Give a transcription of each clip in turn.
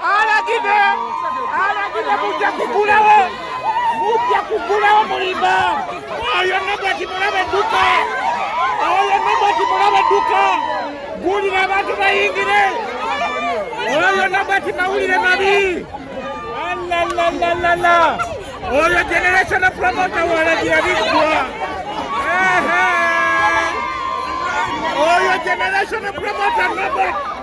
alagide alagide mujja kugulawo mujja kugulawo mulimba oyo nobati mulaba edduka oyo nobati mulaba edduka gulira abantu bayingire oyo nobati mawulire mabi alalalala oyo generation promota walagira biggwa oyo generation promota nobati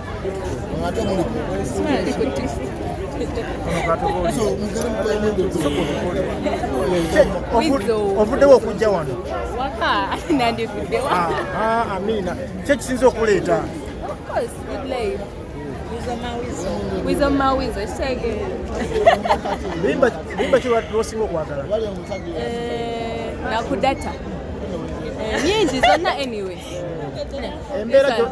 ovuddewo okujja wano amina kyo kisinza okuleeta limba kiwasinga okwagala eh, nakudata eh, nyingi zonna anyway embeera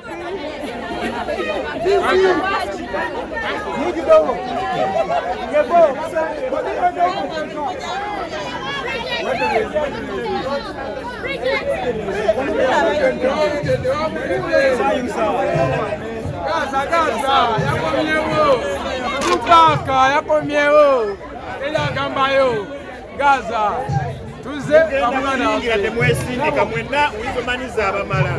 Gaza, Gaza, yakomyewo. Tupaka, yakomyewo. Ela gamba yo. gaza tuze kamwana temwesindika mwenna wizomanyiza abamala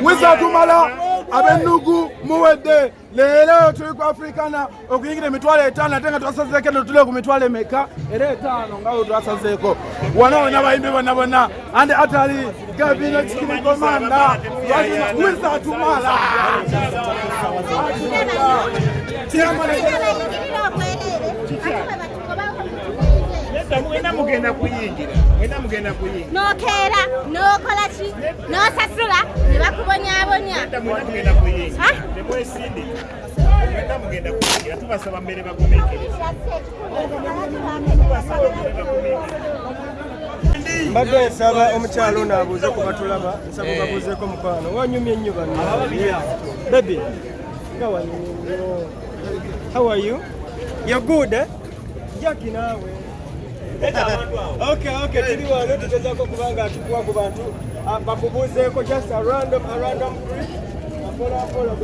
wizatumala abennugu muwedde leero tuli ku afrikana okuyingira emitwalo etaano ate nga twasazeeko eno tuli ku mitwalo emeka era etaano nga we twasazeeko wana wena bayimbi bona bona andi atali gavino kikirikomanda wizatumala mwena mugenda kuyingira mwena mugenda kuyingira nokeera nokola ki nosasula ne bakubonyabonya mwena mugenda kuyingira ah? temwesindika mwena mugenda kuyingira tubasaba mbere bagumiikiriza mbadde nsaba omukyalo ono abuuze ku batulaba nsaba babuuzeeko mukwano wanyumye nnyo bano bebi nga wanyumye nnyo How are you? You're good, eh? Jackie nawe. Okay, okay, tuli wano tugezaako kubanga atukuwa ku bantu ah, bakubuuzeeko just a random a random group. Apola apola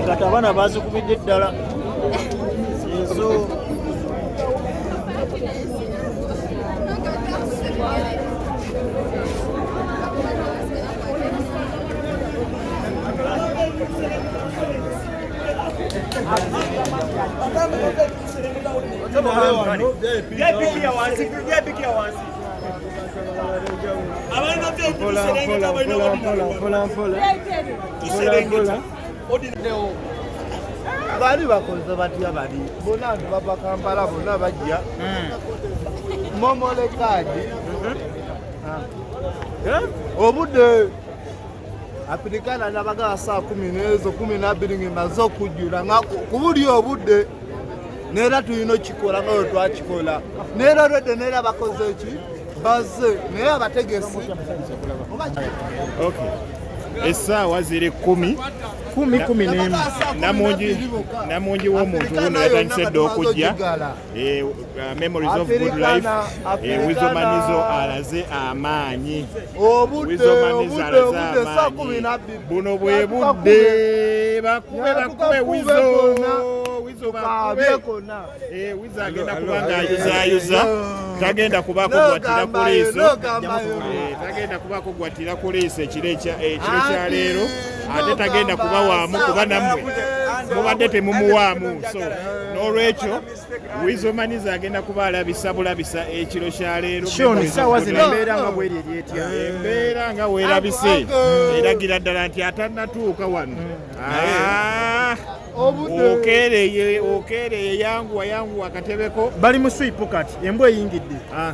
kati abaana bazikubidde ddala ezo bali bakoze batya bali bona nti bava kampala bona bajja hmm. momolekaji hmm. ah. eh? obudde apirikana nabagala saa kumi nezo kumi nabiri ngemaze okujjula nga kubuli obudde neera tulina okikola nga wetwakikola neera olwedde neera bakoze eki baze naye abategesi essaawa ziri kumi kumi kumi nemu namungi w'omuntu wuno yatandise dda okujja Eh, uh, memories of good life eh, wizomanizo alaze amaanyi buno bwe budde bakube bakube wizo wizo bakube eh, wizo agenda kuba ng'ayuzayuza tagenda kuba kugwatira ku liiso tagenda kuba kugwatira ku liiso ekiro kya leero ate tagenda kubawaamu kuba nammwe mubadde temumuwaamu so n'olwekyo wizomaniza agenda kuba alabisa bulabisa ekiro kya leero embeera nga weerabise eragira ddala nti atanatuuka wano ah. okeereye okeereye yanguwa yanguwa akatebeko bali mu swipu kati embwa eyingidde ah.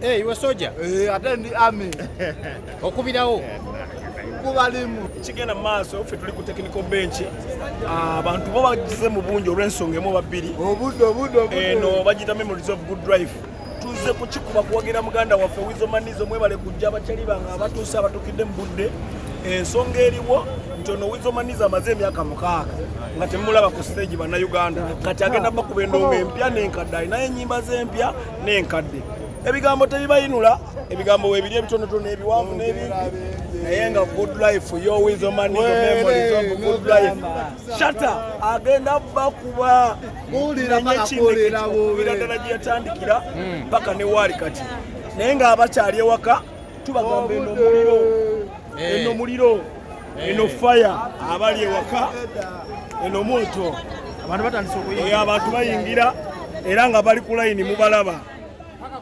Hey, you a soldier? Eh, ate ndi army. Okubirawo. Kubalimu. Kigenda maaso ffe tuli ku technical bench. Ah, abantu bo bagize mu bungi olw'ensonga emu babiri. Obudde obudde obudde. Eno bagita memories of good drive. Tuze kukikuba kuwagira muganda waffe Wizo Manizo mwebale kujja abakyali bange abatuuse abatukidde mu budde. Ensonga eriwo nti ono Wizo Manizo amaze emyaka mukaaga nga temulaba ku stage bannayuganda kati agenda bakuba endongo empya n'enkadde alinayo ennyimba z'empya n'enkadde ebigambo tebibayinula ebigambo webiri ebitonotono ebiwanvu n'ebingi naye nga good life yo with your money your memories of good life shata agenda bakuba nenyekinekekubira ddala gye yatandikira hmm. paka ne waali kati naye nga abakyali ewaka tubagamba eno muliro eh. eno muliro eh. eno fire abali ewaka eno moto abantu batandise okuyingira eh, abantu bayingira era nga bali ku layini mubalaba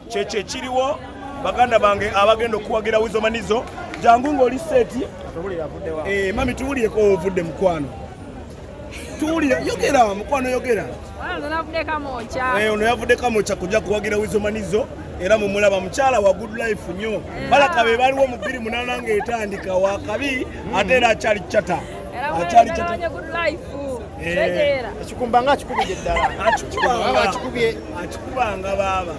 kyekyo ekiriwo baganda bange abagenda okuwagira wizomanizo jangu ng'oli seeti mami tubulieko ovudde mukwano tuwulira yogera mukwano yogera eh, ono yavudde kamokya kujja kuwagira wizomanizo era mumulaba mukyala wa good life nyo eh. balaka be baliwo mu bbiri munana nga etandika wakabi hmm. ate era akyali cata akyali eh. akikumbanga akikubidde ddala akikubanga baaba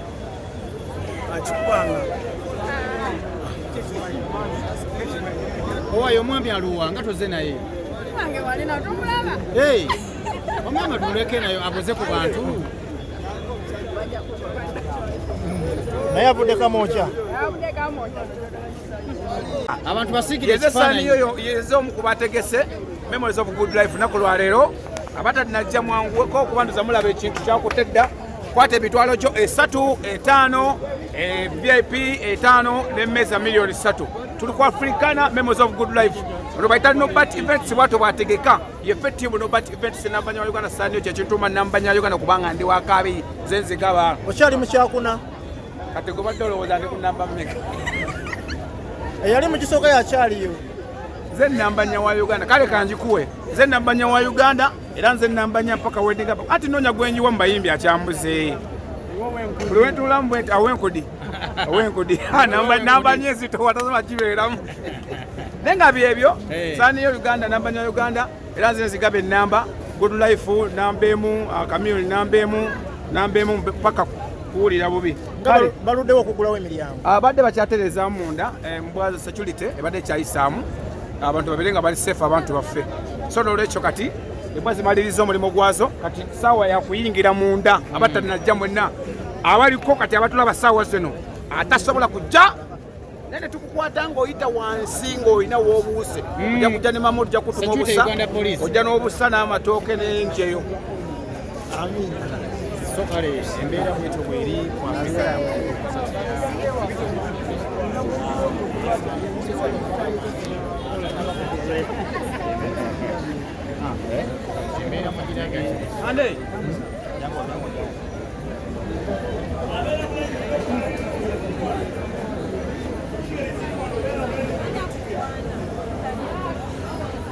owayo omwami aluwa nga toze naye omwami tuleke nayo aboze ku bantu naye avudde kamokya abantu basiikire ekifaananyieze omu ku bategese memories of good life naku lwaleero abatalinaggya mwanguweko okubanduza mulaba ekintu kyakutte dda kwata emitwalo kyo esatu etaano e, vip etaano nemmeeza miliyoni satu tuli ku africana memos of good life ono baita nobat events bwato bwategeka yefe tiimu nobat events nambanya wa uganda sanio kyekintuma nambanya uganda kubanga ndi wakabi zenzigaba okyali mukyakuna kati gobadde olowooza ndi kunamba meka eyali mukisooka yakyaliyo nze nambanya wa uganda kale kanjikuwe nze nambanya wa uganda era nze nambanya mpaka wedding up ati nonya gwenyiwa mu bayimbi akyambuze buli wentuulamu bwenti awenkudi awenkudi nambanya ezito watasobola kibeeramu naye nga byebyo saniyo uganda nambanya uganda era nze nzigaba enamba good life namba emu akamiyoni uh, namba emu namba emu paka kuwulira bubi baluddewo okugulawo emiryango abadde ah, bakyatereeza munda embwa eh, security ebadde ekyayisaamu abantu babere nga bali safe abantu baffe so nolwekyo kati embwa zimaliriza omulimu gwazo kati saawa yakuyingira munda abatanajja mwenna abaliko kati abatulaba saawa zino atasobola kujja naye netukukwata ngaoyita wansi ngaolina wobuuse hmm. oja kujja ne mamu ojja kutuma obusa ojja n'obusa n'amatooke n'enjeyo so kale embeera bwetyo bweri ku afrika yamu Andei!